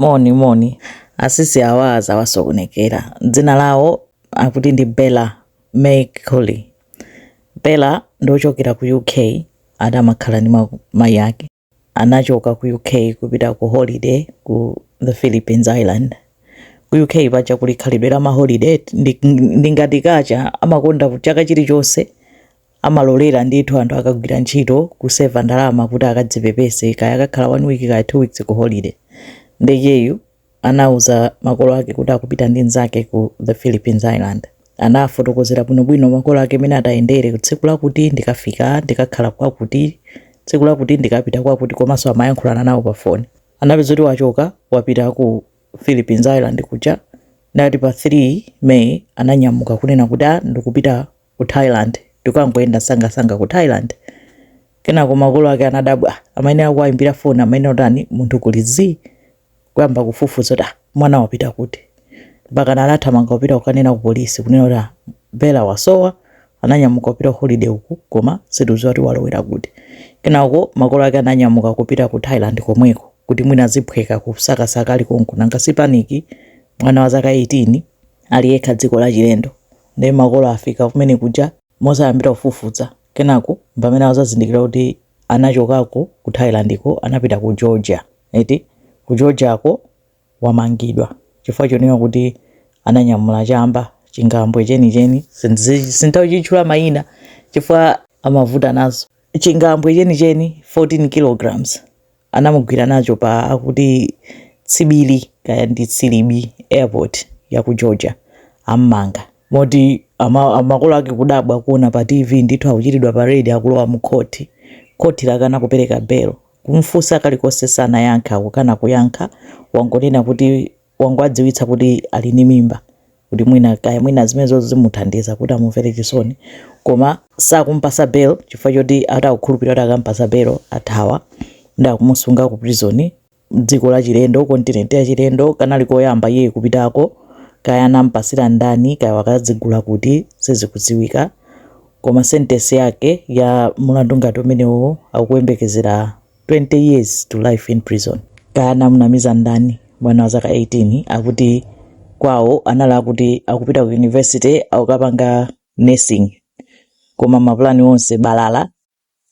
Moni moni. Asisi awa zawasokonekera. Dzina lawo akuti ndi Bella May Culley. Bella ndi ochokera ku UK, adamakhala ndi mayi ake. Anachoka ku UK kupita ku holiday ku the Philippines Island. Ku UK paja kuli khalidwe la maholiday ndi, ndi ngati kacha amakonda chaka chilichonse amalolera ndithu anthu akagwira ntchito kuseva ndalama kuti akadzipepese kaya akakhala one week kaya two weeks ku holiday nde uyu anauza makolo ake kuti akupita ndi nzake ku the philippines island anafotokozera bwinobwino makolo ake mene atayendere tsiku lakuti ndikafika ndikakhala kwakuti tsiku lakuti ndikapita kwakuti komanso amayankhulana nawo pa foni anapeza kuti wachoka wapita ku philippines island kuja ndi ati pa 3 may ananyamuka kunena kuti a ndikupita ku Thailand ndikangoyenda sangasanga ku Thailand kenako makolo ake anadabwa amayenera kuwayimbira foni amayenera kutani munthu kuli zii kuyamba kufufuza kuti ah, mwana wapita kuti mpaka anathamanga kupita kukanena ku polisi kunena kuti ah, Bella wasowa ananyamuka kupita holiday uku koma sitikudziwa kuti walowera kuti kenako makolo ake ananyamuka kupita ku Thailand komweko kuti mwina ziphweka kusakasaka ali konko nanga si paniki mwana wa zaka 18 ali yekha dziko la chilendo Nde makolo afika kumene kuja mozayambira kufufuza kenako mpamene azazindikira kuti anachokako ku Thailand ko anapita ku Georgia eti ku Georgia ko wamangidwa chifukwa chonena kuti ananyamula chamba chingambwe chenicheni sinditawatchula mayina chifukwa amavuta nazo chingambwe chenicheni 14 kilograms anamugwira nacho pa akuti tsibili kaya ndi tsilibi airport ya ku georgia ammanga moti ama, makolo ake kudabwa kuona pa tv ndithu akuchitidwa paredi akulowa mu khoti khoti lakana kupereka belo kumfunsa kalikonse sanayankha akukana kuyankha wangonena kuti wangowadziwitsa kuti ali ndi mimba kuti mwina kaya mwina zimenezo zimuthandiza kuti amumvere chisoni koma sakumpasa bail chifukwa choti ati akukhulupirira kuti akampasa bail athawa nde akumusunga ku prison dziko la chilendo kontinenti ya chilendo kanali koyamba iye kupitako kaya anampasira ndani kaya anakazigula kuti sizikudziwika koma sentesi yake ya mulandu ngati umenewo akuyembekezera 20 years to life in prison kaya anamunamiza ndani mwana wa zaka 18 akuti kwawo anali oti akupita ku university akukapanga nursing koma mapulani onse balala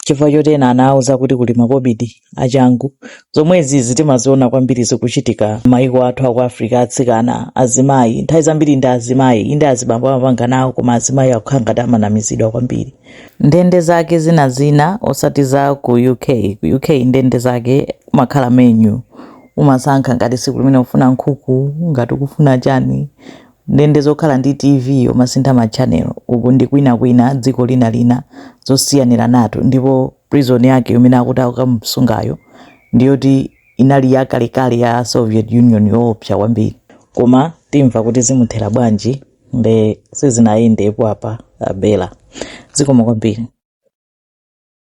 chifukwa choti ena anawauza kuti kuli makobidi achangu zomwezi zi timaziona kwambiri zikuchitika maiko athu aku africa atsikana azimayi nthawi zambiri ndi azimayi inde azibambo amapanga nawo koma azimayi akukhala ngati amanamizidwa kwambiri ndende zake zina zina osati za ku uk ku uk ndende zake kumakhala menu umasankha ngati tsiku limeneli ufuna nkhuku ngati ukufuna chani ndende zokhala ndi tv umasintha ma channel uku ndi kwina kwina dziko lina lina zosiyaniranatu ndipo prison yake imene akuti akukamusungayo ndiyoti inali yakalekale ya soviet union yoopsa kwambiri koma timva kuti zimuthera bwanji nde sizinayendetu apa abela zikomo kwambiri